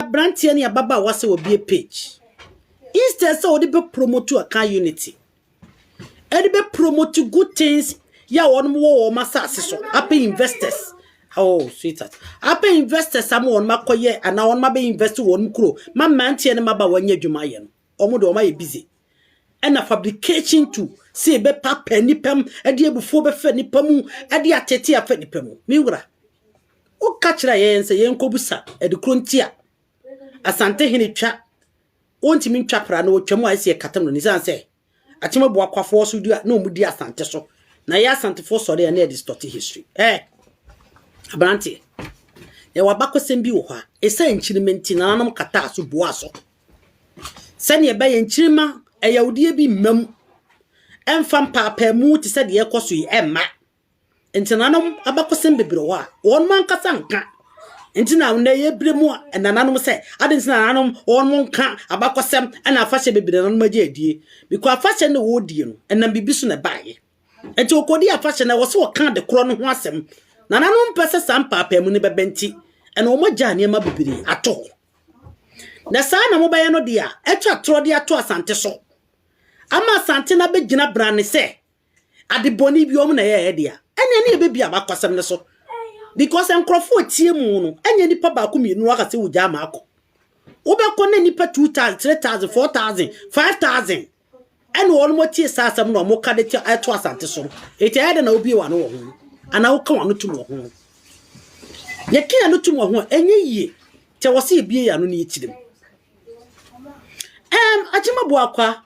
abranteɛ ne ababaawa sɛ wɔbie page instead sɛ wɔde bɛ promote aka unity ɛde bɛ promote good things yɛ a wɔn wɔ wɔn asase so apɛ investors oh sweetheart apɛ investors ama wɔn akɔyɛ anaa wɔn abɛ invest wɔn kuro ma mmeranteɛ ne mmabaawa nyɛ adwuma yɛ no. Wɔn deɛ wɔn ayɛ busy. Ɛna fabrication to sɛ yɛbɛpapa nipa mu, ɛde abufuo bɛfa nipa mu, ɛde atete afa nipa mu. Me wura, woka kyerɛ yɛn sɛ yɛnkɔbusa ɛde kuro nti a Asante hene twa wɔntumi ntwa pra na wɔtwa mu a ɛsɛ yɛkatam no nisan sɛ atem abu akwafoɔ so di a na wɔn di Asante so na yɛ Asantefoɔ sɔre a na yɛde stɔte history. Ɛɛ aberanteɛ, yɛwɔ abakɔsɛm bi wɔ hɔ a ɛsɛ nkyinime nti nananom kataa so buaa so. Sɛnea ɛbɛyɛ nkyirimma ɛyawdeɛ bi mma mu ɛmfa mpaapaamu te sɛ deɛ ɛrekɔ so yi ɛmma ntenanom abakɔsɛm bebree wɔ hɔ a wɔn ankasa nka nti na nnɛ yɛbrɛ mu nananom sɛ ade nti na nananom wɔn nka abakɔsɛm ɛna afahyɛ bebree nananom agye adie bikɔ afahyɛ no wɔredie no ɛnam biribi so na ɛbaeɛ nti wɔkɔdi afahyɛ no ɛwɔ sɛ wɔka de korɔ no ho asɛm nananom mpɛ sɛ saa mpaapaamu no bɛbɛ nti ɛna wɔn agya nneɛma bebree ato hɔ Na saa na mobɛyɛ no de a, atwa atorɔ de ato Asante so, ama Asante no abɛgyina brane sɛ ade bɔne bi wɔn na ɛyɛɛ dea. Ɛnneɛ ne yɛbɛbie abakɔsɛm no so, because nkurɔfoɔ a tie mu no, ɛnyɛ nipa baako mmienu na waka sɛ wogyaa ma akɔ. Wobɛkɔ na nipa 2000, 3000, 4000, 5000. Ɛnna wɔn tie saa asɛm na wɔka de to asante so no. Enti ɛyɛ dɛ na wobie wɔn ano wɔ ho anaa woka wɔn ano tum wɔ ho. Yɛka yɛn ano tum wɔ ho a, ɛnyɛ yie. Kyɛ wɔ sɛ yɛbie yɛn ano ne yɛtirim. Ɛm, Akyema Boakwa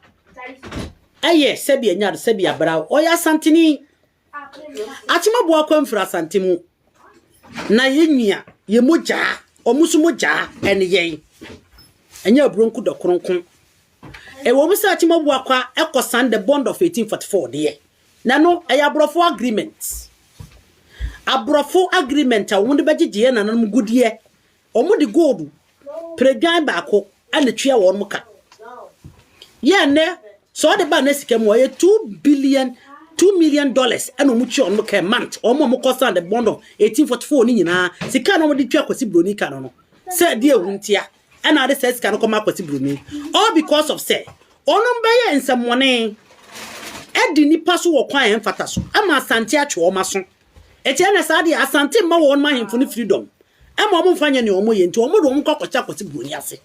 ɛyɛ sɛbi ɛnyɛ ade sɛbi abera ɔyɛ asanteni. Akyema Boakwa mfiri asante mu. na yɛn nua yɛn mogyaa wɔn nso mogyaa ɛne yɛn ɛnyɛ aburonku dɔ kronko ɛwɔ mu sɛ akyima bu akwa ɛkɔ san the bond of 1844 deɛ na no ɛyɛ aborɔfo agreement aborɔfo agreement a wɔn de bɛgyegyeɛ nananom gudeɛ Wɔde gold pere dwan baako na ɛtua wɔn ka. Yɛ nnɛ, sɛ wɔde ba nnɛ sika mu a, ɛyɛ two billion, two million dollars na wɔtua wɔn ka month. Wɔn a wɔkɔ sand the bond of 1844 no nyinaa, sika na wɔde tua Kwasi Broni ka no no, sɛ ɛde ehu ntia, ɛna ade sɛ sika no kɔma Kwasi Broni. All because of sɛ, wɔn bɛyɛ nsɛmmɔne ɛdi nipa so wɔ kwan a ɛmfata so, ama Asante atwe wɔn aso. Ɛkyɛɛ na saa deɛ Asante mma wɔn ma ahemfo no freedom ɛma wɔn mfa nyɛ nea wɔn yɛ nti wɔn de wɔn kɔ akɔhyɛ akɔsi buroni ase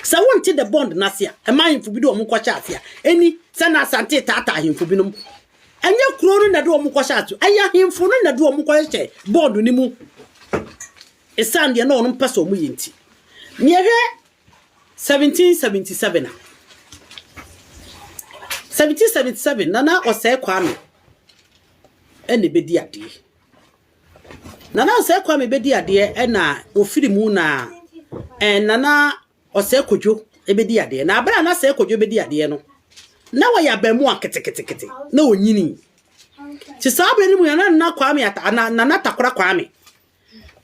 sɛ wɔn te the bond n'ase a ɛma ahemfo bi de wɔn kɔhyɛ ase a ɛni sɛ na Asante taataa ahemfo binom ɛnyɛ kuro no na de wɔn kɔhyɛ ase ɛyɛ ahemfo no na de wɔn kɔhyɛ bond no mu ɛsan deɛ na wɔn mpɛ sɛ wɔn yɛ nti nea ɛhwɛ 1777 a 1777 na na ɔsɛe Kwame ɛna ɛbɛdi adeɛ. Nana Osei Kwame bɛdi adeɛ ɛna ofiri mu na ɛn Nana Osei Kodwo ɛbɛdi adeɛ. Na abere a na Osei Kodwo bɛdi adeɛ no, na wɔyɛ abɛɛmoa ketekete na ɔnyini. Nti saa abere no mu na Nana Kwame, Nana Takora Kwame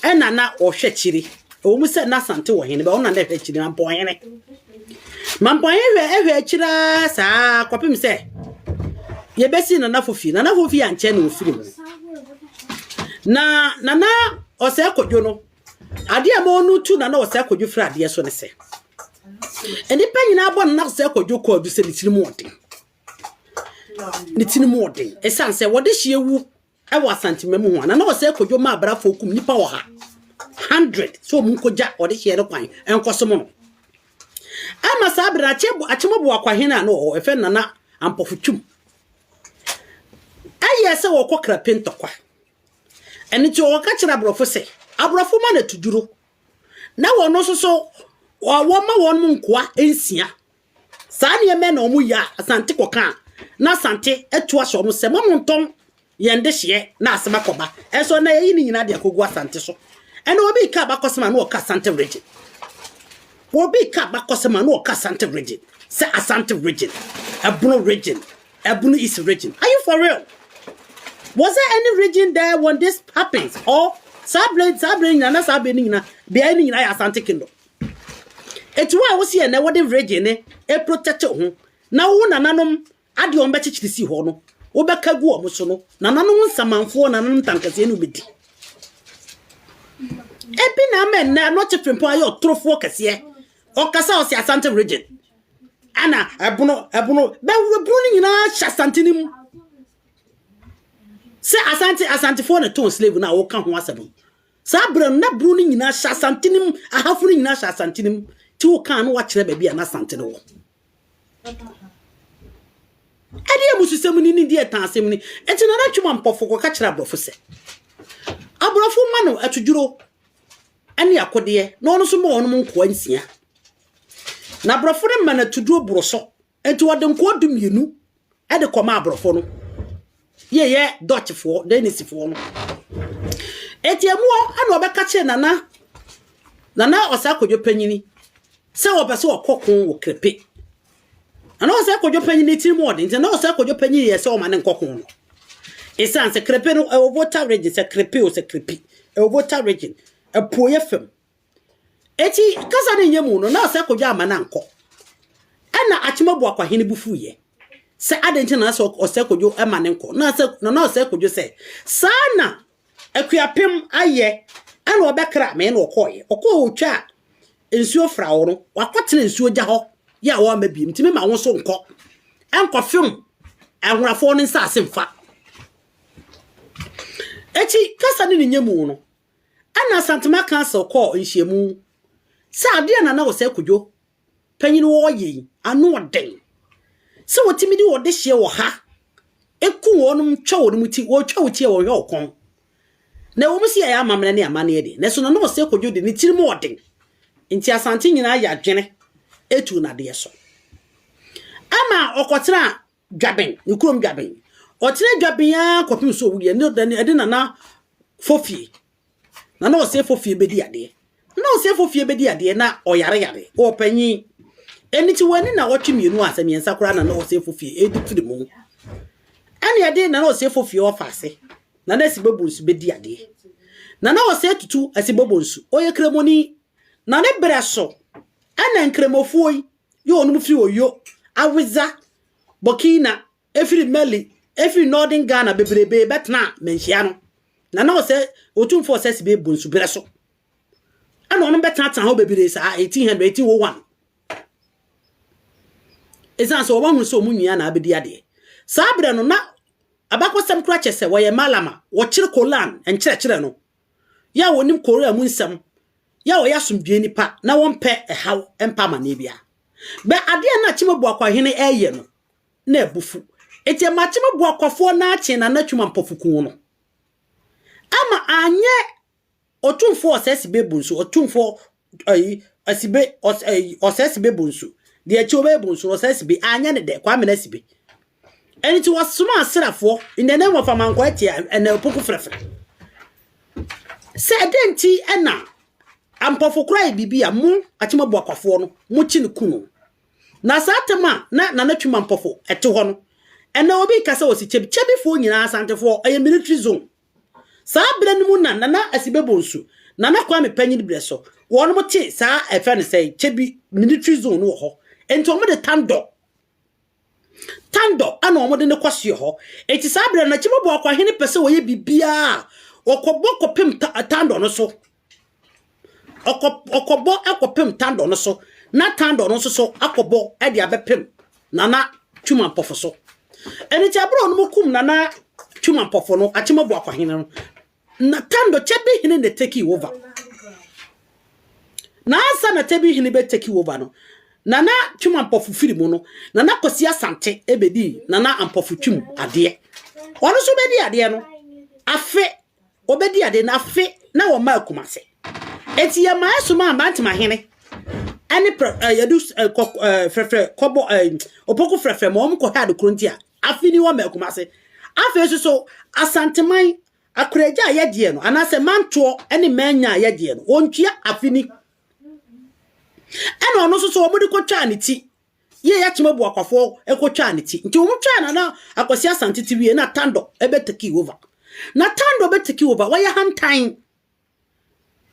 ɛna na ɔhwɛ kyiri ɛwɔ mu sɛ na sante wɔ hene bɛ ɔna na ɛhwɛ kyiri mampɔhene mampɔhene hwɛ ɛhwɛ akyira saa kɔpem sɛ yɛbɛsi nanafo fie nanafo fie ankyɛ na ɔfiri mu na nana ɔsɛ akɔdwo no adeɛ a ma ɔno tu nana ɔsɛ akɔdwo firi adeɛ so ne sɛ nnipa nyinaa bɔ nana ɔsɛ akɔdwo kɔ adu sɛ ne tiri mu ɔden ne tiri mu ɔden ɛsiane sɛ wɔde hyeɛ wu ɛwɔ Asante Mmamu ho a, na na ɔsɛe kwadwo ma abrɛafoɔ kum nnipa ɔha, hundred, sɛ wɔn nkɔgya ɔdehyeɛ no kwan nkɔsom no. Ɛma saa berɛ no Akyemɔboa Kwahene a na ɔwɔ hɔ ɛfɛ Nana Ampɔfo Twum ɛyɛɛ sɛ wɔkɔ Krape ntɔkwa. Ɛno nti wɔka kyerɛ aborɔfo sɛ aborɔfo ma no atuduro na wɔn nso so wɔma wɔn nkoa nsia Saa nneɛma na wɔn yɛ a Asante kɔ ka a, na Asante to ahyɛ wɔn sɛ, Mma mo ntɔn yɛn dehyeɛ na asɛm akɔ ba. Ɛnso ɛnɛ yɛyi ne nyinaa de akɔgu Asante so. Ɛnɛ obi ka abakɔsɛm a na ɔka Asante region. Obi ka abakɔsɛm a na ɔka Asante region. Sɛ Asante region, Ɛbono region, Ɛbono East region. Are you for real? Was there any region there when this happens? Or saa bere saa bere nyinaa na saa bere no nyinaa beae no nyinaa yɛ Asante kingdom. Enti wo a wo se ɛnnɛ wode virgin no reprotect wo ho na wo nananom ade wɔn bɛkyekyere si hɔ no, wobɛka gu wɔn so no, nananom nsamanfoɔ, nananom tankaseɛ ne wobɛdi. Ebi na ama ɛnnɛ anɔkye frimpɔn ayɛ ɔtorofoɔ kɛseɛ. Ɔkasa ɔse Asante region. Ana ɛbono ɛbono bɛwura bunu no nyinaa hyɛ Asante no mu. Sɛ Asante Asantefoɔ na tɔn slave no a woka ho asɛm. Saa berɛ no, na bunu no nyinaa hyɛ asante no mu, ahafo no nyinaa hyɛ asante no mu. Ti wo kaa no wakyerɛ baabi a na asante no wɔ. Ɛdeɛ abususɛm ni ne deɛ ɛtaa asɛm ni. Ɛnti na natwe ma mpɔfo kɔka kyerɛ aborɔfo sɛ, aborɔfo ma no atodwuro ne akodeɛ na ɔno nso ma ɔnom nkoa nsia. Na aborɔfo no ma no atoduro boro so Enti wɔde nkoa du mmienu de kɔma aborɔfo no. Yɛyɛ Dutchfoɔ, Danisefoɔ no. Enti ɛmu hɔ na ɔbɛka kyerɛ nana nana ɔsɛ akɔdwo panyini sɛ wɔpɛ sɛ wɔkɔ ko wɔ krepe. Nana ɔsɛ akɔdwo panyini tiri mu ɔde nti nana ɔsɛ akɔdwo panyini yɛ sɛ ɔma ne nkɔ ko no. Esan sɛ krepe no ɛwɔ Volta region sɛ krepe o sɛ krepi ɛwɔ Volta region apuoyɛ fam Enti kasa no nyɛ mu no, na ɔsɛ Kojo amma no ankɔ. Ɛnna Akyemabu Akwahene bo fuiɛ sɛ adɛn nti na na sɛ ɔsɛ Kojo ma no nkɔ. Na sɛ na na ɔsɛ Kojo sɛ, saa na Akuapem ayɛ, ɛnna ɔbɛkra me na ɔkɔeɛ. Ɔkɔɔ ɔtwaa nsuo fra hɔ no, wakɔtena nsuo gya hɔ yɛ a wɔamma biem. Nti mema wo nso nkɔ, nkɔfem Ahorafoɔ no nsase mfa. Enti kasa no ne nyɛ mu no, Ɛna Asantuma Council kɔɔ nhyiamu sɛ adeɛ a Nana Osei Kwadwo panyin ɔɔyɛ yi ano ɔden. Sɛ wɔtumi de ɔdehyeɛ wɔ ha ɛku wɔnom twa wɔnom ti, wɔtwa wo ti a wɔnhwɛ wo kɔn. Na ɛwɔ mu sɛ yɛayɛ amammerɛ ne amanneɛ de, nanso Nana Osei Kwadwo de ne tirim ɔden nti Asante nyinaa yɛ adwene ɛtuu no adeɛ so. Ɛma ɔkɔtenaa Dwaben, ne kurom Dwaben. Ɔtenaa Dwaben ara kɔpem sɛ owuiɛ, ne dɛn, ɛde Nana Fofie, Nana Osei Fofie bɛdi adeɛ. Nana Osei Fofie bɛdi adeɛ na ɔyare yare, ɔwɔ panyin. Ɛno nti wɔani na wɔtwe mmienu a sɛ mmiɛnsa koraa Nana Osei Fofie ɛredi firi mu. Ɛne ɛde Nana Osei Fofie ɔfa ase, Nana Asibobonsu bɛdi adeɛ. Nana Osei Tutu Asibobonsu, ɔyɛ Kramoni, na ne berɛ so ɛna Nkramofoɔ yi Yo, wɔnom firi Oyo, Awedza, Burkina, ɛfiri Mali, ɛfiri Northern Ghana bebrebee bɛtenaa manhyia no. Na na ɔsɛ Otumfoɔ Ɔsɛse bee bɔ nsuberɛ so. Ɛna wɔnom bɛtenatena hɔ bebree saa 1800, 1801. Ɛsiane sɛ wɔahunu sɛ wɔn nwia na abɛdi adeɛ. Saa berɛ no na abakɔsɛm kora kyɛ sɛ wɔyɛ Malama, wɔkyere Kolan nkyerɛkyerɛ no. yɛ a wɔnim Korea mu nsɛm, yɛ a wɔyɛ asomdwoe nnipa na wɔmpɛ ɛhaw mpa amanneɛ biara. Bɛ adeɛ a na Akyemabuakwa hene reyɛ no, na ɛbo fu. Enti ɛma Akyemabuakwafoɔ no ara kyee Nana Twuma Mpofu kuu no. Ama anyɛ Otumfoɔ Osei Sibebun so, Otumfoɔ ayi asibe ɔs ayi ɔsɛ asibe bonsu deɛ akyi ɔbɛyɛ bonsu no ɔsɛ asibe anyɛ ne dɛ kwame na asibe ɛno nti wɔsoma asrafoɔ in the name of amankɔ atia ɛna opoku frɛfrɛ sɛ ɛdɛ nti ɛna ampɔfo koraa yɛ biribi a mo akyemabo akwafoɔ no mo kyi no ku no na saa atɛm a na nana twima mpɔfo ɛte hɔ no ɛna obi ka sɛ wɔsi kyɛbi kyɛbifoɔ nyinaa asantefoɔ ɛyɛ military zone Saa berɛ no mu na Nana Asibe Bonsu, Nana Kwame panyin berɛ so, wɔnom te saa ɛfrɛ no sɛn, Kyebi military zone no wɔ hɔ. Enti wɔn de Tandɔ, Tandɔ ɛna wɔn de no kɔ soɛ hɔ. Enti saa berɛ no na Kyemobɔ Akwahene pɛ sɛ ɔyɛ biribiara a, ɔkɔbɔ kɔpem Tandɔ no so. Ɔkɔ ɔkɔbɔ akɔpem Tandor no so na Tandor no nso so akɔbɔ de abɛpem Nana Twum Ampɔfo so. Ɛno nti bere a wɔnom kum Nana Twum Ampɔfo no, Akyem Abuakwa hene no, na Tandor Kyebi hene na ɛteki over. Na ansa na Kyebi hene bɛteki over no, Nana Twum Ampɔfo firi mu no, Nana Kwasi Asante ɛbɛdii Nana Ampɔfo Twum adeɛ. Ɔno nso bɛdi adeɛ no afe Wɔbɛdi ade no afe na wɔmaa Kumase. Enti yɛma ɛsoma Mbantemahene ne prɛ eh, yɛdu eh, kɔ, eh, frɛfrɛ kɔbɔ eh, Opoku frɛfrɛ ma wɔn kɔhwɛ adekoro nti a afe ni wɔma Kumase. Afei nso so Asanteman akoragya a yɛdeɛ no anaasɛ mantoɔ ne manya a yɛdeɛ no wɔntua afe ni. Ɛna ɔno nso so wɔde kɔtwaa ne ti Yie yɛ tema buakwafoɔ ɛkɔ twaa ne ti nti wɔn twaa nana akwasi asante ti wie na tando ɛbɛ teki over na tando bɛ teki over wɔyɛ hantan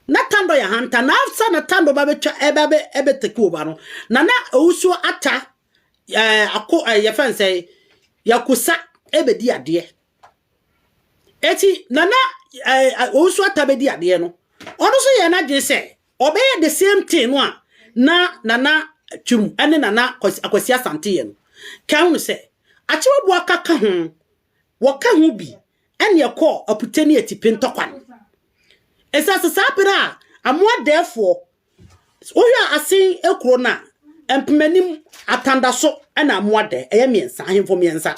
na tando yɛ hantan na afsa na tando ba bɛ twa ɛbɛ bɛ ɛbɛ teki over no nana owusuo ata ɛɛ eh, ako ɛɛ eh, yɛ fɛn sɛ yakusa ɛbɛ di adeɛ eti nana ɛɛ eh, owusuo ata bɛ di adeɛ no ɔno so yɛ n'adwene sɛ. Ɔbɛyɛ the same thing no a na Nana Twum ne Nana Akwasi Asante yɛ no. Ka hunu sɛ, Akyewabo aka ka ho, wɔka ho bi ne ɛkɔɔ Apute ne Atipe ntɔkwa no. Ɛsɛ asɛ saa berɛ a Amoadaɛfoɔ, wohwɛ a Asen kuro no a, Mpemanim, Atandaso ne Amoadaɛ, ɛyɛ mmiɛnsa, ahemfo mmiɛnsa.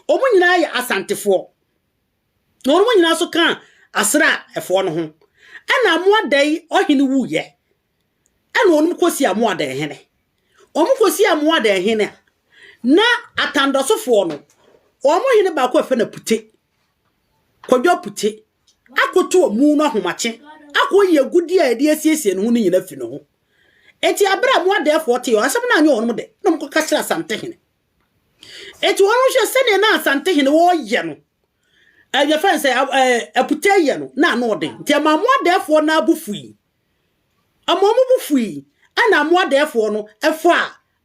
Wɔn nyinaa yɛ Asantefoɔ. na wɔnom nyinaa nso kaa Asera foɔ no ho. Ɛna Amoadae ɔhene wuiɛ, ɛna wɔnom kɔsii Amoadae hene. Wɔnom kɔsii Amoadae hene a, na Atandɔso foɔ no, wɔnom hene baako a ɛfɛ na Pute, Kwadwo Pute, akoto wɔn mu no ahomakye, akɔ yi agudie a ɛde asiesie ne ho no nyina fi ne ho. Eti abere a Amoadae foɔ tee wɔn asɛm no anyɛ wɔnom de, na wɔn kɔka kyerɛ Asante hene. Enti wɔn hwɛ sɛdeɛ na Asantehene wɔyɛ no ɛyɛ fɛn sɛ aputɛ yɛ no na ano ɔden nti ɛma mo adɛɛfoɔ no abu fui ɛma ɔmo bu fui ɛna mo adɛɛfoɔ no ɛfa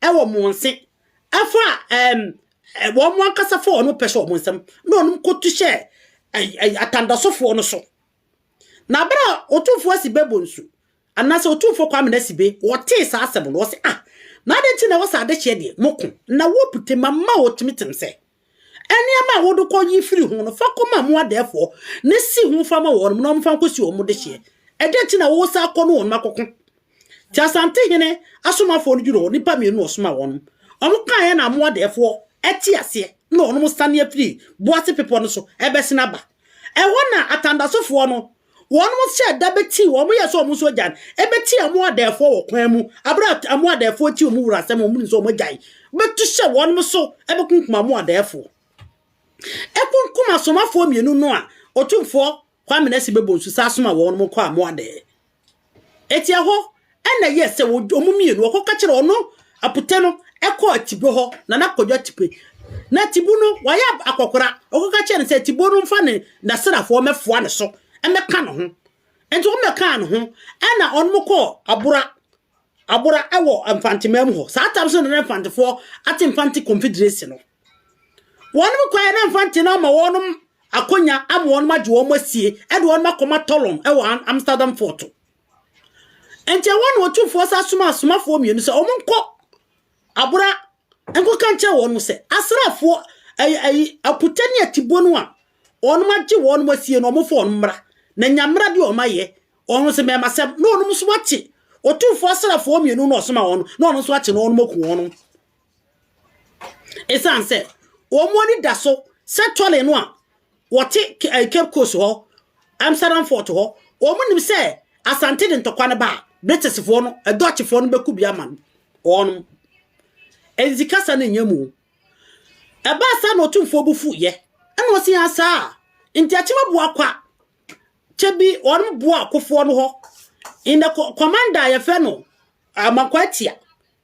ɛwɔ mo nse ɛfa ɛm wɔn ankasa fa wɔn pɛ hyɛ wɔn nsam na wɔn kɔtu hyɛ atandasofoɔ no so Na bere a Otumfo Asibe Bonsu, anaasɛ Otumfo Kwame Nasibe, wɔtee saa asɛm no, wɔse, Ah! Na adɛn nti na ɛwɔ sɛ adehyeɛ deɛ, moko, na wopu te ma ma wɔtumi tem sɛ, Nneɛma a wode kɔ yi firi ho no, fa kɔma mo adɛɛfoɔ na si ho fa ma wɔnom na wɔmfa nkɔsi wɔn dehyeɛ? Ɛdɛn nti na woresan kɔ ne wɔnom akɔko? Nti Asante hene asomafoɔ no dwuroo nnipa mmienu a ɔsomaa wɔn no, wɔkaeɛ na amoa dɛɛfoɔ te aseɛ na wɔnom sane afiri Boase bepɔ no so rebɛsene aba. Ɛhɔ na Atandasofoɔ no, wɔnom hyɛɛ da bɛtii, wɔn yɛɛ sɛ wɔn nso agyan, bɛtii amoa dɛɛfoɔ wɔ kwan mu, aberɛ a amoa dɛɛfoɔ tie wɔn wura asɛm a wɔnim sɛ wɔn agyan bɛtu hyɛ wɔnom so bɛkunkum amoa dɛɛfoɔ. Ɛkunkum asomafoɔ mmienu no a Otumfoɔ Kwame na si bɛbɔ nsu saa soma wɔn mo kɔ amoa dɛɛ. Eti ɛhɔ ɛna yɛ sɛ wɔn mo mmienu wɔkɔ kakyere ɔno aputɛ no ɛkɔ atibo hɔ na na kɔdwa tipe na atibu no wɔayɛ akɔkora ɔkɔ kakyere no sɛ atibo no mfa ne nasrafoɔ mɛfoa ne so ɛmɛka ne ho nti wɔn mɛkaa ne ho ɛna ɔno mo kɔ abora abora ɛwɔ mfantemaa mu hɔ saa tam so na na mfantefoɔ ate mfante confederation no Wɔn mu kwan na mfa ntena ama wɔn akonya ama wɔn agye wɔn asie de wɔn akɔma Tolon wɔ Amsterdam fɔɔto. Enti ɛwɔ na ɔtumfoɔ sa soma asomafoɔ mmienu sɛ wɔn nkɔ abora nkɔka nkyɛ wɔn sɛ asraafoɔ ayi akuta ne atibuo no a wɔn agye wɔn asie no wɔn fɔ wɔn mmra na nya mmra de wɔn ayɛ wɔn sɛ mɛmasɛm na wɔn nso akye ɔtumfoɔ asraafoɔ mmienu na ɔsoma wɔn na wɔn nso akye na wɔn aku wɔn. Ɛsiane sɛ wɔn ani da so sɛ tɔle no a wɔte Cape Coast hɔ, Amsterdam fort hɔ, wɔn nim sɛ Asante de ntɔkwa no ba a, Britishfoɔ no, Dutchfoɔ no bɛku bi ama no. Wɔn. Ɛnzi kasa no nyɛ mu. Ɛbaa saa na ɔtumfoɔ bu fu yɛ. Ɛna ɔsi yɛn saa. Nti akyima boa kwa. Kyɛ bi wɔn boa akofoɔ no hɔ. In the commander yɛfɛ no, amakwa tia.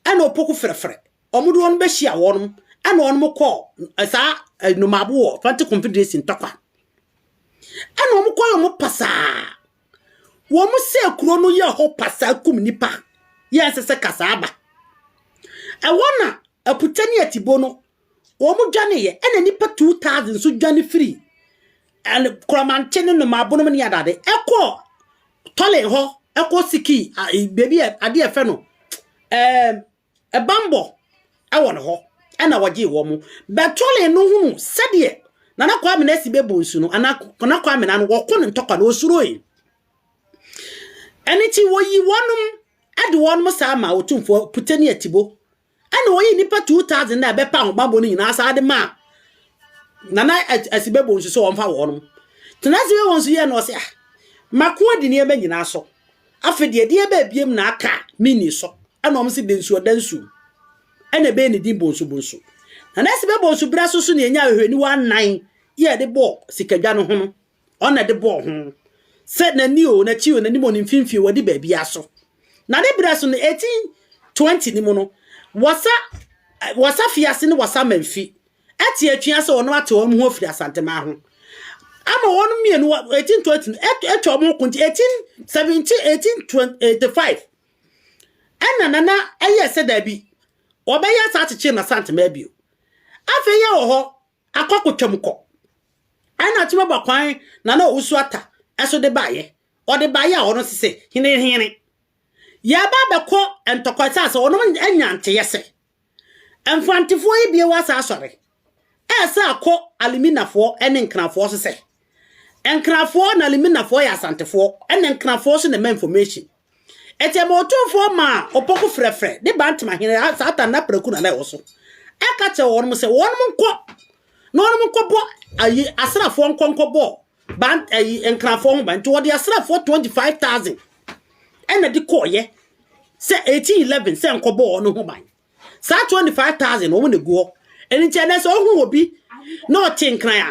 Ɛna opoku ferɛferɛ wɔn de wɔn bɛhyia wɔn, ɛna wɔn kɔɔ saa nnomaabo wɔ Atlantic Confederation ntɔkwa. Ɛna wɔn kɔɔ wɔn pasaa. Wɔn sɛ kuro no yɛ hɔ pasaa kum nipa, yɛ nsɛ sɛ kasaa ba. Ɛwɔ na akuta ne atibo no Wɔdwaneeɛ, ɛnna nnipa two thousand nso dwane firii ɛn Korɔmantse ne Nnomaabonom ne adade kɔɔ Tɔlen hɔ kɔ sikii a baabi a adeɛ a ɛfɛ no ɛɛm ɛbammɔ wɔ no hɔ, ɛnna wɔgyee wɔn. Bɛ Tɔlen no hunu sɛdeɛ Nana Kwame no asi bɛbɔ nsu no, anaa Nana Kwame no ano, wɔko no ntɔkwa no, ɔsuroe. Ɛno nti, wɔyii wɔnom de wɔnom saa maa Otumfoɔ Puteni Atibo Ɛna ɔyii nnipa 2,000 a ɛbɛpa ahobammɔ no nyinaa saa de maa Nana Asibebo nso sɛ ɔmfa wɔn. Nana Asibebo nso yɛɛ no ɔse, ah, mako adi nneɛma nyinaa so. Afe deɛ, deɛ ɛbɛ abiem na aka a menni so. Ɛna ɔmo se Dansuo Dansuo. Ɛna ɛbɛyɛ ne din Bonsu Bonsu. Nana Asibebo nso berɛ so so na yɛnyaa ahwehwɛniwa nnan yɛ de bɔɔ sikadwa no ho no. Ɔno na ɛde bɔɔ ho, sɛ n'ani o, n'akyi o, n'anim o, ne mfimfini o, wadi baabiara so. Na ne berɛ so no, 1820 no mu no, Wasa, Wasa Fiase ne Wasa Manfi ate atua sɛ wɔn ate wɔn ho afiri Asanteman ho ama wɔn mmienu 1820 no atwa wɔn ho ko nti 1817 1885 ɛna nana ɛyɛ sɛ daabi wɔbɛyɛ saa kyekyere ma Asanteman bio afei yɛ wɔ hɔ Akɔ kotwam kɔ. Ɛna ɔte bɛbɔ kwan na na Owusu Atta ɛso de baeɛ. Ɔde baeɛ a ɔno nso se, Hene Hene, yɛreba abɛkɔ ntɔkwa ɛsiane sɛ ɔnom anya nteeɛ sɛ Mfantefoɔ yi bio asan asɔre, ɛresan akɔ Aliminafoɔ ne Nkrafoɔ so sɛ Nkrafoɔ na Aliminafoɔ yɛ Asantefoɔ ɛna Nkrafoɔ nso na ɛma information. Ete ma otumfoɔ ma opoku frɛfrɛ ne bantama hene a Satan ne apraku na na ɛwɔ so, ɛka kyerɛ wɔnom sɛ wɔnom nkɔ na wɔnom nkɔbɔ ayi asrafoɔ nkɔ nkɔbɔ ban ayi nkrafoɔ ho ban nti wɔde asrafoɔ 25,000 ɛna de kɔɔyɛ sɛ 1811 sɛ nkɔbɔ wɔn ho ban. saa 25000 wɔn na egu hɔ ɛno nti ɛnɛ sɛ ɔhu obi na ɔte nkran a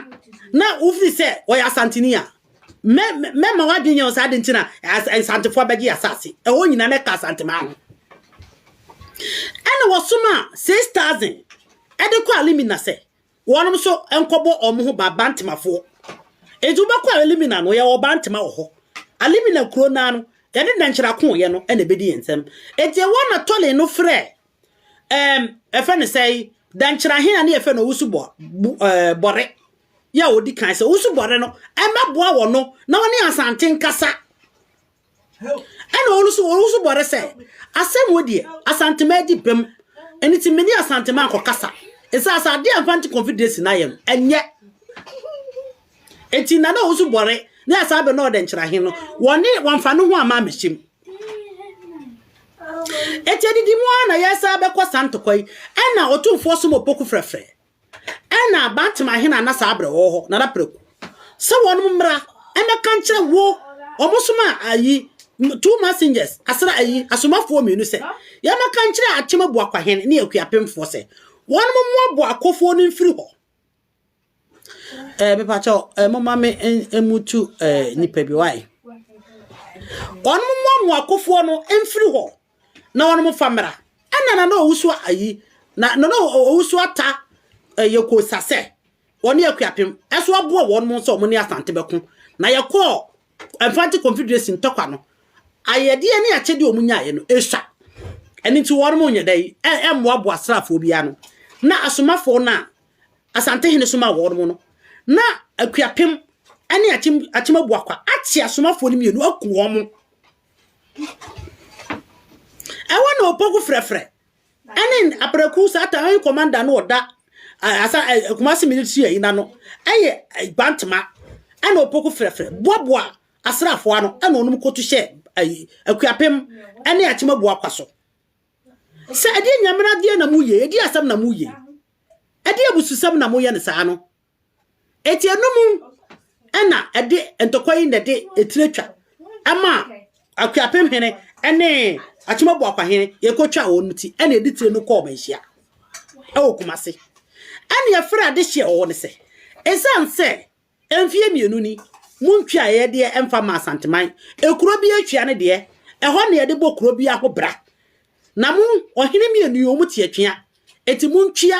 na wofiri sɛ ɔyɛ asanteni a mɛma wadwen yɛn saa de nti na nsantefo abɛgye asase ɛhɔ nyinaa na ɛka asantema ho ɛna wɔsom a 6000 ɛde kɔ alimina sɛ Wɔnom nso nkɔbɔ wɔn ho ba Bantemafoɔ. Enti wobɛkɔ Alimina no, yɛwɔ Bantema wɔ hɔ. Alimina kuro no ara no, yɛne Nnɛnkyerɛ Akooyɛ no na ɛbɛdi yɛn nsam. Enti ɛhɔ na Tɔlen no frɛ, ɛɛm, ɛfɛ ne sɛe, Dɛnkyerɛ Ahene a ne yɛfɛ no Owusu Bɔ, Bu, ɛɛ, Bɔre, yɛ a ɔdi kan sɛ Owusu Bɔre no mmɛboa wɔn no na wɔne Asante nkasa. ɛna ɔno nso ɔno nso bɔre sɛ asɛm wɔ deɛ asantema adi bɛm ɛno ti mene asantema nkɔkasa ɛsɛ asɛ adeɛ amfa nte confederation no ayɛ no ɛnyɛ ɛti nana ɔno nso bɔre ne asɛ abɛ na ɔdɛ nkyerɛ he no wɔne wɔmfa no ho ama amɛhyɛm ɛti adidi mu a na yɛsɛ abɛkɔ santokɔ yi ɛna ɔtomfoɔ som ɔpoku frɛfrɛ Ɛnna Bat-Seba hene a na saa bere ɔwɔ hɔ no ara preko sɛ wɔnom mmra mmɛka nkyerɛ wo, wɔsomaa ayi, two messengers, asra ayi, asomafoɔ mmienu sɛ, yɛmmɛka nkyerɛ Akyemabuakwa hene ne akuapemfoɔ sɛ, wɔnom mmoaboa akofoɔ no mfiri hɔ. Eh, mepakyɛ, eh, moma me mmutu eh, nipa bi, wae. Wɔnom mmoaboa akofoɔ no mfiri hɔ, na wɔn fa mmra ɛna na na owusu ayi na na owusu ata ɛyɛ kosa sɛ wɔne akuapem ɛso aboa wɔn mo nso wɔn ne asante bɛko na yɛkɔɔ mfante confederation ntɔkwa no ayɛdeɛ ne akyɛdeɛ wɔn nyaeɛ no ɛsua ɛne nti wɔn mo nyɛ dɛ ɛmmoaboa asraafoɔ biara no na asomafoɔ no a asante hene soma wɔn mo no na akuapem ɛne akyem akyem abuakwa ate asomafoɔ no mmienu aku wɔn mo Ɛhɔ na Opoku Frɛfrɛ ne Apraku Satan Commander no ɔda asa Kumasi military ayi na no ɛyɛ Gbantema ɛna Opoku Frɛfrɛ boaboa asraafo ano ɛna ɔnom koto hyɛ ayi Akuapem ɛne Akyema bu akwa so sɛ ɛde nyamena deɛ na mu yɛ ɛde asɛm na mu yɛ ɛde abususɛm na mo yɛ ne saa no Enti ɛnom na ɛde ntɔkwa yi na ɛde etire twa ɛma Akuapem hene ɛne Akyemabu Akwahene yɛkɔtwa wɔn no ti ɛna ɛde tire no kɔɔ manhyia ɛwɔ Kumase. Ɛne ɛfrɛ adehyeɛ wɔ hɔ no sɛ ɛsiane sɛ mfeɛ mmienu ni montwaeɛ deɛ ɛmfa ma Asanteman ekuro bi atwea no deɛ ɛhɔ na yɛde bɔ kuro bi aho bra na mo ɔhene mmienu yi wɔn te atwea eti montwea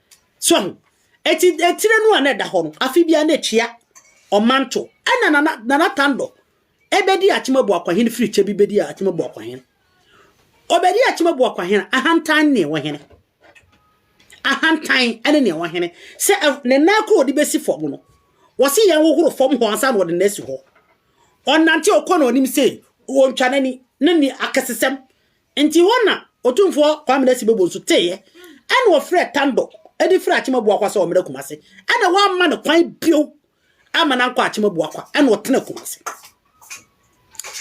So ahu? Eti etire no a na ɛda hɔ no, afe biara na etua ɔmanto. Ɛna Nana Nana Tandɔ ɛbɛdi Akyemabu Akwahen firi kyɛ bi bɛdi Akyemabu Akwahen. Ɔbɛdi Akyemabu Akwahen ahantan ne ɛwɔ hene. Ahantan ɛne ne ɛwɔ hene. Sɛ ne nan koro ɔde bɛsi fam no, wɔsi yɛn hohoro fam hɔ ansa na ɔde na asi hɔ. Ɔnante ɔkɔ na ɔnim sɛ ɔntwa n'ani ne ne akɛsesɛm Nti hɔ na Otumfoɔ Kwame Nasi Bobo nso teeɛ, ɛna ɔfrɛɛ Tando de firii Akyem Abuakwa sɛ ɔmmra Kumasi, ɛna wɔamma no kwan bio amma no ankɔ Akyem Abuakwa, ɛna ɔtenaa Kumasi,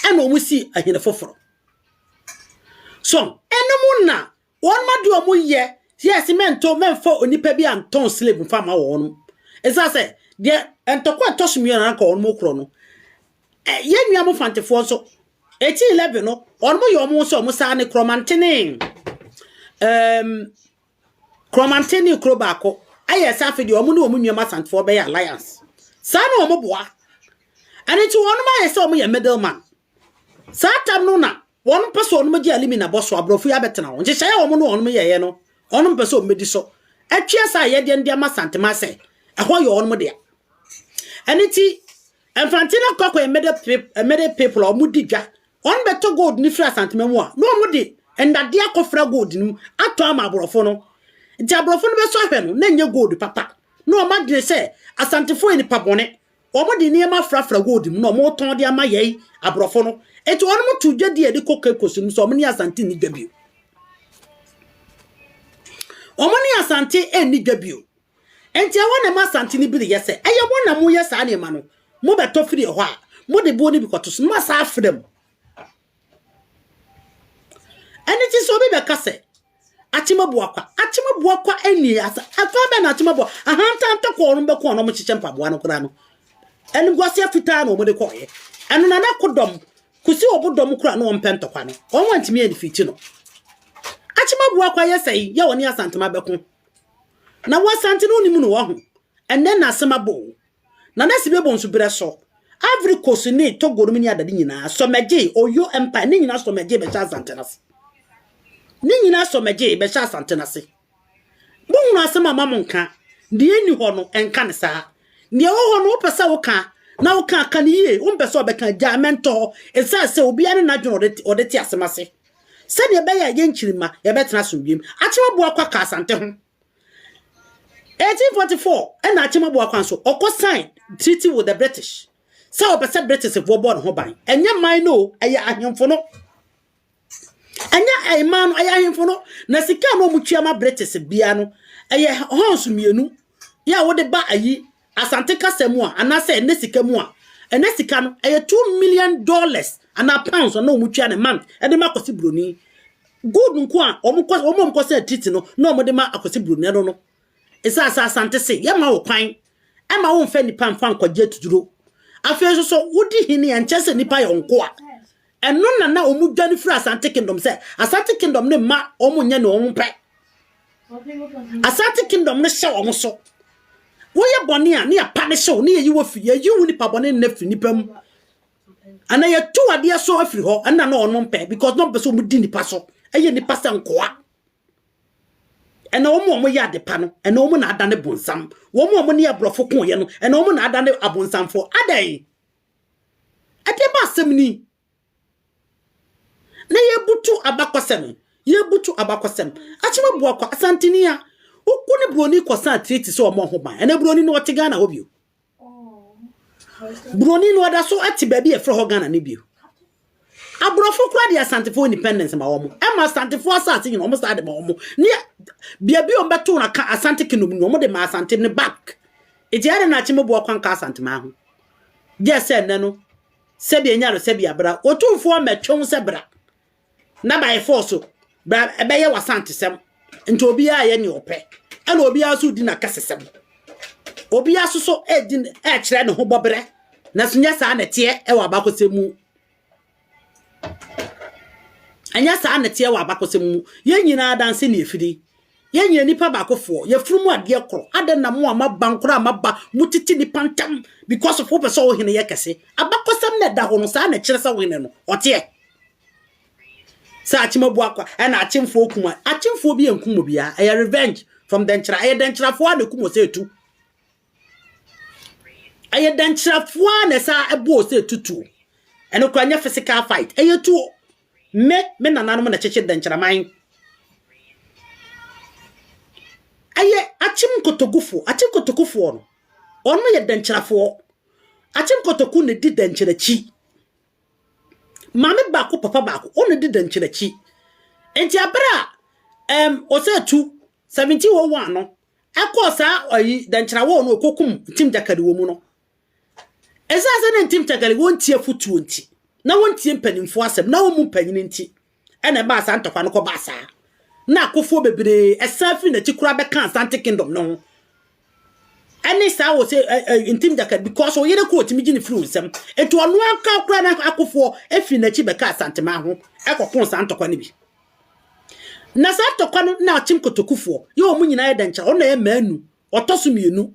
ɛna wɔn sii ahene foforɔ. So, ɛnom na wɔn ade wɔn yɛ, yɛse mɛnto, mɛmfa onipa bi antɔn slave mfa ma wɔn. Ɛsiane sɛ, deɛ ntɔkwa ɛtɔ so mmienu anka wɔn korɔ no, yɛn nua mo fantefoɔ nso, Eti 11 no, wɔn yɛ wɔn sɛ wɔn saa ne korɔmantene um, korɔmantene ne kuro baako ayɛ sɛ afei deɛ wɔn ne wɔn nnuam asantefoɔ bɛyɛ alliance saa na wɔn boa ɛne nti wɔn ayɛ sɛ wɔn yɛ middle man saa tam no na wɔn mpɛ sɛ wɔn gye alimi na bɔ so aborɔfo yi abɛtena wɔn nhyehyɛeɛ wɔn ne wɔn yɛeɛ no wɔn mpɛ sɛ wɔn bɛdi so atwea saa yɛdeɛ no de ama santema sɛ ɛhɔ yɛ wɔn deɛ ɛne nti Mfantse na Kɔkɔ Emede Emede people a wɔn di dwa, wɔn bɛ tɔ gold no firi Asantema mu a, na wɔn de ndadeɛ akɔ fira gold no mu atɔn ama aborɔfo no. Nti aborɔfo no bɛ sɔ ahwɛ no, na nyɛ gold papa. Na wɔn adwene sɛ Asantefoɔ yɛ nipa bɔne. Wɔn de nneɛma afra fra gold mu na wɔn retɔn de ama yɛn aborɔfo no. Nti wɔn too dwa dii ɛde kɔ Cape Coast no sɛ wɔn ne Asante nni dwa bio. Wɔn ne Asante nni dwa bio. Enti ɛhɔ na ɛma Asante no bi reyɛ sɛ ɛyɛ wɔn na moyɛ saa nneɛma no. Mobɛtɔ firi ɛhɔ a, mode boɔ no bi kɔto so na moasan afena mu. Ɛno nti sɛ obi bɛka sɛ Akyemabua kwa, Akyemabua kwa nni asa. Ɛkwan bɛn na Akyemabua ahantan tɔkɔɔ no bɛkɔɔ na wɔkyekyɛ mpaboa no koraa no? Animguaseɛ fitaa na wɔde kɔɔeɛ. Ɛno na na kodɔm kɔsi ɔbodɔm koraa na wɔmpɛ ntɔkwa no. Wɔn antumi anifiti no. Akyemabua kwa yɛ sɛ yɛ wɔne Asantema bɛko. na w'asante no wonim no wahu ɛnɛ na asɛm abɔ o na na si bɛbɔ nso berɛ so Ivory Coast ne Togo nom ne adade nyinaa sɔmɛgye Oyo Empire ne nyinaa sɔmɛgye bɛhyɛ asante no ase ne nyinaa sɔmɛgye bɛhyɛ asante no ase mo hunu asɛm a ma mo nka deɛ ni hɔ no ɛnka ne saa deɛ wɔ hɔ no wopɛ sɛ woka na woka ka ne yie wompɛ sɛ ɔbɛka gyaa mɛntɔ hɔ ɛsiane sɛ obiara ne n'adwene ɔde te asɛm ase sɛdeɛ ɛbɛyɛ a yɛn nkyirimma yɛbɛtena asomdwoem. Akyem Abuakwa kaa Asante ho. 1844 na Akyem Abuakwa nso, ɔkɔ sign treaty with the British sɛ ɔpɛ sɛ Britishfoɔ bɔ ne ho ban. Ɛnyɛ man no o, ɛyɛ ahemfo no. Ɛnyɛ ɛman no, ɛyɛ ahemfo no. Na sika no a wɔtua ma British bia no, ɛyɛ horns mmienu yɛ a wode ba ayi Asante kasa mu a, anaasɛ ɛnnɛ sika mu a, ɛnnɛ sika no, ɛyɛ two million dollars anaa pounds a na wɔtua no month de ma Akwasi Buroni. Gold nko a wɔn kɔ, wɔn a wɔkɔsan atiriti no na wɔde ma Akwasi Buroni ɛno no. Ɛsiane sɛ Asante se yɛmma wo kwan ɛma womfa nnipa mfa nkɔgye atuturo, afei nso so wodi hene a ɛnkyɛ sɛ nnipa yɛ wo nkoa. Ɛno na na wɔn dwane firi Asante Kingdom sɛ Asante Kingdom no mma wɔn nyɛ ne wɔn pɛ. Asante Kingdom no hyɛ wɔn so. Woyɛ bɔne a ne yɛ pa ne hyew ne yɛ yi wɔ firi yɛ yi wo nipa bɔne nna firi nipa mu. Ana yɛ tu adeɛ so afiri hɔ ɛna na wɔn pɛ because na wɔn pɛ sɛ wɔn di nipa so ɛyɛ nipa sɛ nkoa. ɛna wɔn a wɔyɛ adepa no ɛna wɔn na adane bonsam wɔn a wɔn ne aborɔfo ko yɛ no ɛna wɔn na adane abonsamfo adɛn Ɛdeɛ ba asɛm ni. Na yɛbutu abakɔsɛm. Yɛbutu abakɔsɛm. Akyema Buakwa, Asanteni a, woku ne buroni kɔsan treaty sɛ ɔmmɔ ho ban. Ɛnɛ buroni no ɔte Ghana hɔ bio. Buroni no ɔda so te baabi a yɛfrɛ hɔ Ghana no bio. Aborɔfo koraa de Asantefoɔ independence ma wɔn. Ɛma Asantefoɔ asase nyina wɔn saa de ma wɔn. Ne baabi a wɔn bɛto wɔn aka Asante Kingdom nyina wɔn de ma Asante ne back. Eti ɛde na akyi mo boa kwan ka Asanteman ho. Gye sɛ nnɛ no sɛbi enya no sɛbi abra. Otumfoɔ mɛtwe ho sɛ bra. Na by force Bra ɛbɛyɛ w'asantesɛm. Nti obiara yɛ nea ɔpɛ. Ɛna obiara nso di n'akasasɛm. Obiara nso so ɛdi ɛkyerɛ ne ho bɔbrɛ. Na so nyɛ saa na ɛteɛ ɛwɔ abakɔsɛm mu. Ɛnyɛ saa na ɛteɛ wɔ abakɔsɛm mu. Yɛn nyinaa adanse na yɛfiri. Yɛn nyɛ nipa baakofoɔ. Yɛfiri mu adeɛ korɔ. Adɛn na mo a moaba nkora a moaba motete nipa ntam because of wopɛ sɛ wo hene yɛ kɛse. Abakɔsɛm na ɛda hɔ no saa na ɛkyerɛ sɛ wo hene no ɔteɛ. Sɛ akyem abu akwa ɛna akyemfoɔ ɔkum a, akyemfoɔ bi ɛnkum obiara. Ɛyɛ revenge from dɛnkyira. Ɛyɛ dɛnkyirafoɔ a na ɛkum ɔsɛ ɛtu. Ɛyɛ dɛnkyirafoɔ a na ɛsɛ ɛbɔ ɔsɛ ɛtutuo. Ɛno kora nyɛ physical fight. Ɛyɛ tuo. Me, me nananom na kyekye dɛnkyiraman. Ɛyɛ akyem nkotogufoɔ. Akyem nkotokufoɔ no, ɔno yɛ dɛnkyirafoɔ. Akyem nkotoku na ɛdi dɛnkyira akyi. Maame baako, papa baako, wɔn na di dɛnkyɛm akyi. Nti abere a ɛm ɔsɛ tu 1701 no ɛkɔɔ saa ɔyi dɛnkyɛn awɔɔ no ɔkɔkum ntim gyakali wɔ mu no. Ɛsan sɛ na ntim gyakali wɔn tie afutuo nti, na wɔn tie mpanyinfoɔ asɛm, na wɔn mu mpanyin nti. Ɛna ɛmaa saa ntɔkwa no kɔbaa saa, na akofoɔ bebree san firi n'akyi koraa bɛkaa Asante Kingdom no ho. Ɛne saa wɔ sɛ ntim dakad because ɔyere koro ɔtumi gye ne firi wo nsam. Nti ɔno anka koraa na akofoɔ firi n'akyi bɛkaa Asanteman ho ɛkɔkoo saa ntɔkwa no bi. Na saa ntɔkwa no na Akyem Kotokufoɔ yɛ wɔn nyinaa yɛ dɛnkyerɛ, ɔno na ɛyɛ mmaa nu, ɔtɔ so mmienu,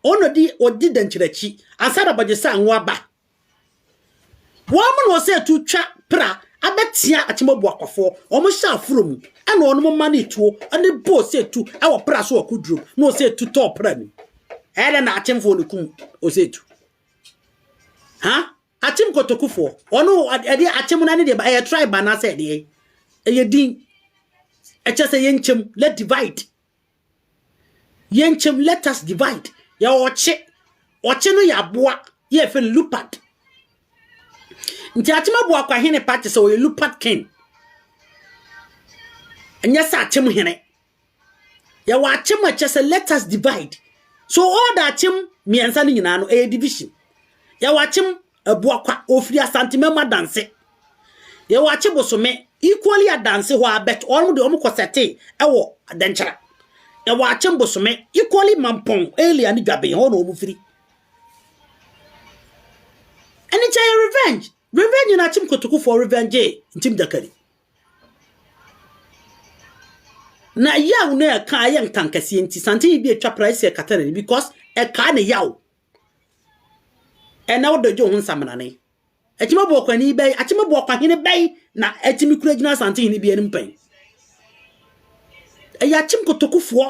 ɔno di ɔdi dɛnkyerɛ akyi ansa na Bɔgye Sango aba. Wɔnom na wɔsɛ tu twa pra abɛtea Akyemɔbu akwafoɔ. Wɔnom hyɛ aforo mu ɛna wɔnom manee tuo ɛne bo ɔsɛ tu ɛwɔ pra so wɔ Kudrom na ɔsɛ tu tɔɔ pra nim. Ɛyɛ dɛ na Akyemfoɔ no kum ɔsɛ tu. Ha? Akyem Kotokufoɔ. Wɔnom ɛde Akyem no ɛne deɛ ɛyɛ tribe anaasɛ ɛdeɛ ɛyɛ din. Ɛkyɛ sɛ yɛnkyɛm, let divide. Yɛnkyɛm, let us divide, yɛwɔ ɔkye. Ɔkye no yɛ aboa yɛ yɛfrɛ no leopard. Nti akyem abu akwa hene pa te sɛ ɔyɛ leopard king. Ɛnyɛ sɛ akyem hene. Yɛwɔ akyem a ɛkyɛ sɛ let us divide. So all the akyem mmiɛnsa no nyinaa no ɛyɛ division. Yɛwɔ akyem Abuakwa, ofiri Asante Memo Adanse. Yɛwɔ Akye Bosome, equally Adanse hɔ a, but wɔn de wɔn kɔ sɛte ɛwɔ Dɛnkyɛra. Yɛwɔ Akye Bosome, equally Mampɔn area ne Dwaben hɔ na wɔn firi. Ɛne kyɛ yɛ revenge. Revenge na Akyem Kotokufoɔ revenge Ntim Dakari. Na yaw na ɛka ayɛ nkankɛseɛ nti, santen yi bi atwa pra ɛsɛ ɛkata n'ani because ɛkaa ne yaw. Ɛnnɛ wo dɔ gye wo ho nsaminane. Akyima boakɔni bɛn, akyima boakɔhene bɛn na atumi kura gyina asante hene bi anim pɛn? Ɛyɛ akyim kotokufoɔ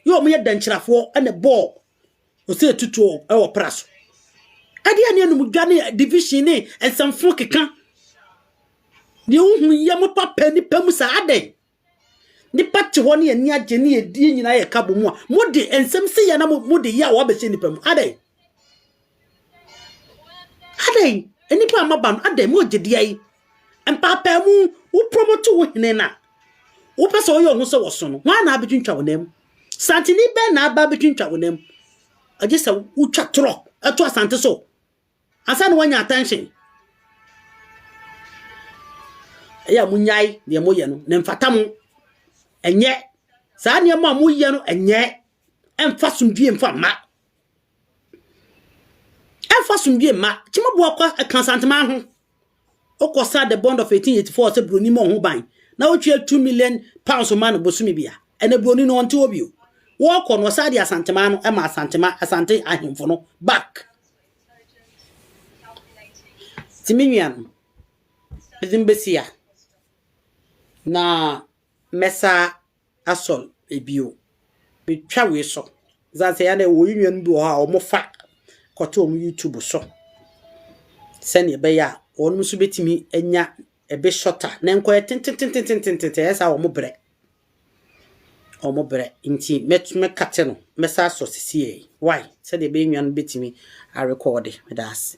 yɛ wɔn yɛ dɛnkyerɛfoɔ ɛna bɔɔ ɔsɛ tutuo ɛwɔ pra so. Ɛde ɛne anum dwa ne division ne nsɛmfo keka. Deɛ wohu yɛ mo papa nipa mu saa adɛn? Nnipa te hɔ ne ani agye ne yɛdie nyinaa yɛ ka bɔ mu a, mode nsɛm sɛ yɛ na mode yɛ a wɔabɛhyɛ nnipa mu. Adɛn? Adɛn? Nnipa a maba no, adɛn? Mogye di ayi? Mpaapaamu, wo promote wo hene na wopɛ sɛ ɔyɛ ɔho sɛ wɔso no, hwan na abɛtwintwa wo nam? Santini bɛn na aba abɛtwintwa wo nam? Agye sɛ wotwa torɔ ɛto asante so Ansa na wanya attention. Ɛyɛ a monyae deɛ moyɛ no na mfata mo. Ɛnyɛ saa nneɛma a moyɛ no ɛnyɛ ɛmfa somdwie mfa mma. Ɛmfa somdwie mma. Kyemaboa kɔ ɛka santema ho. Wokɔsa The Bond of 1884 sɛ buroni ma ɔho ban na wotua two million pounds ma no bosome bia. Ɛnɛ buroni no ɔnte hɔ bio. Wɔkɔ no ɔsan de Asantemaa no ma Asantema Asante ahemfo no back. Ti me nua no ɛdin bɛsi a na mɛsa asɔr bio. Metwa wei so dze aseɛ a na yɛwɔ hɛn nuanom bi wɔ hɔ a wɔfa kɔto hɔn YouTube so sɛdeɛ ɛbɛyɛ a wɔnom nso bɛtumi anya ɛbi shorter na nkɔyɛ tententententententen ɛyɛ saa wɔn brɛ wɔn brɛ nti mɛto mɛkate no mɛsa asɔ sisi yɛ why sɛdeɛ ɛbɛyɛ nnuanom bɛtumi arekɔɔde meda ase.